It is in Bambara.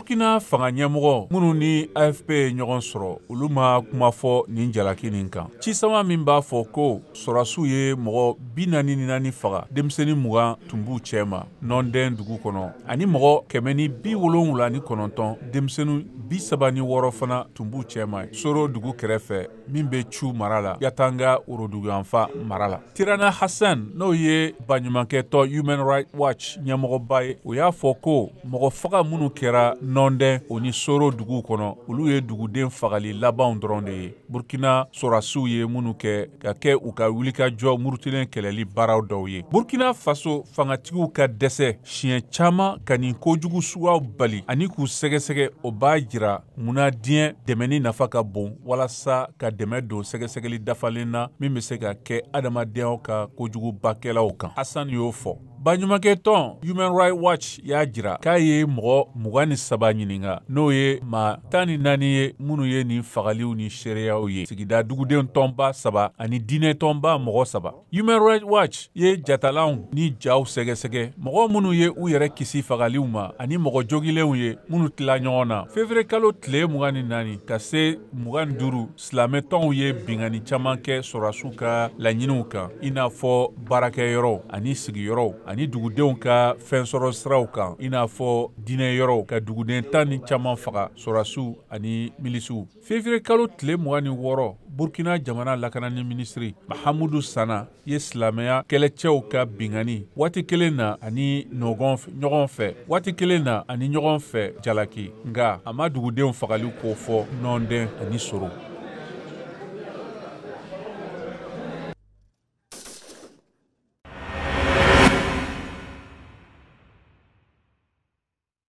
burkina fanga ɲɛmɔgɔ minnu ni afp ye ɲɔgɔn sɔrɔ olu ma kuma fɔ nin jalaki nin kan cisama min b'a fɔ ko sɔrasiw ye mɔgɔ bi naani ni naani faga denmisɛni mugan tun b'u cɛ ma nɔndɛn dugu kɔnɔ ani mɔgɔ kɛmɛ ni bi wolonwula ni kɔnɔntɔn denmisɛni bi saba ni wɔɔrɔ fana tun b'u cɛ ma soro dugu kɛrɛfɛ min bɛ cu mara la yatanga woroduguyanfa mara la tirana hassan n'o ye baɲumankɛtɔn human right watch ɲɛmɔgɔba ye o y'a fɔ ko mɔgɔ faga minnu kɛra nɔndɛn o ni soro dugu kɔnɔ olu ye duguden fagali labanw dɔrɔn de ye burkina sɔrasiw ye minnu kɛ ka kɛ u ka wulikajɔ murutilen kɛlɛli baaraw dɔw ye burkina faso fangatigiw ka dɛsɛ siɲɛ caman ka nin kojugu suguyaw bali ani k'u sɛgɛsɛgɛ o b'a jira munna diɲɛ dɛmɛni nafa ka bon walasa ka dɛmɛ don sɛgɛsɛgɛli dafalen na min bɛ se ka kɛ adamadenya ka kojugubakɛlaw kan hassan y'o fɔ baɲumankɛtɔn human right watch y'a jira k'a ye mɔgɔ mugan ni saba ɲininka n'o ye maa tan ni naani ye minnu ye nin fagaliw ni seereyaw ye sigida duguden tɔnba saba ani diɲɛ tɔnba mɔgɔ saba Human Rights Watch ye jatalanw ni jaw sɛgɛsɛgɛ mɔgɔ minnu ye u yɛrɛ kisi fagaliw ma ani mɔgɔ jogilenw ye minnu tila ɲɔgɔn na fevrier kalo tile mugan ni naani ka se mugan ni duuru silamɛtɔnw ye bingani caman kɛ sɔrasiw ka laɲiniw kan i n'a fɔ baarakɛyɔrɔw ani sigiyɔrɔw ani dugudenw ka fɛnsɔrɔ siraw kan i n'a fɔ diinɛ yɔrɔw ka duguden tan ni caman faga sɔrasiw ani milisiw fevrier kalo tile mugan ni wɔɔrɔ burkina jamana lakanani minisiri mahamudu sana ye silamɛya kɛlɛcɛw ka bingani waati kelen na ani ɲɔgɔn fɛ waati kelen na ani ɲɔgɔn fɛ jalaki nka a ma dugudenw fagali ko fɔ nɔndɛn ani soro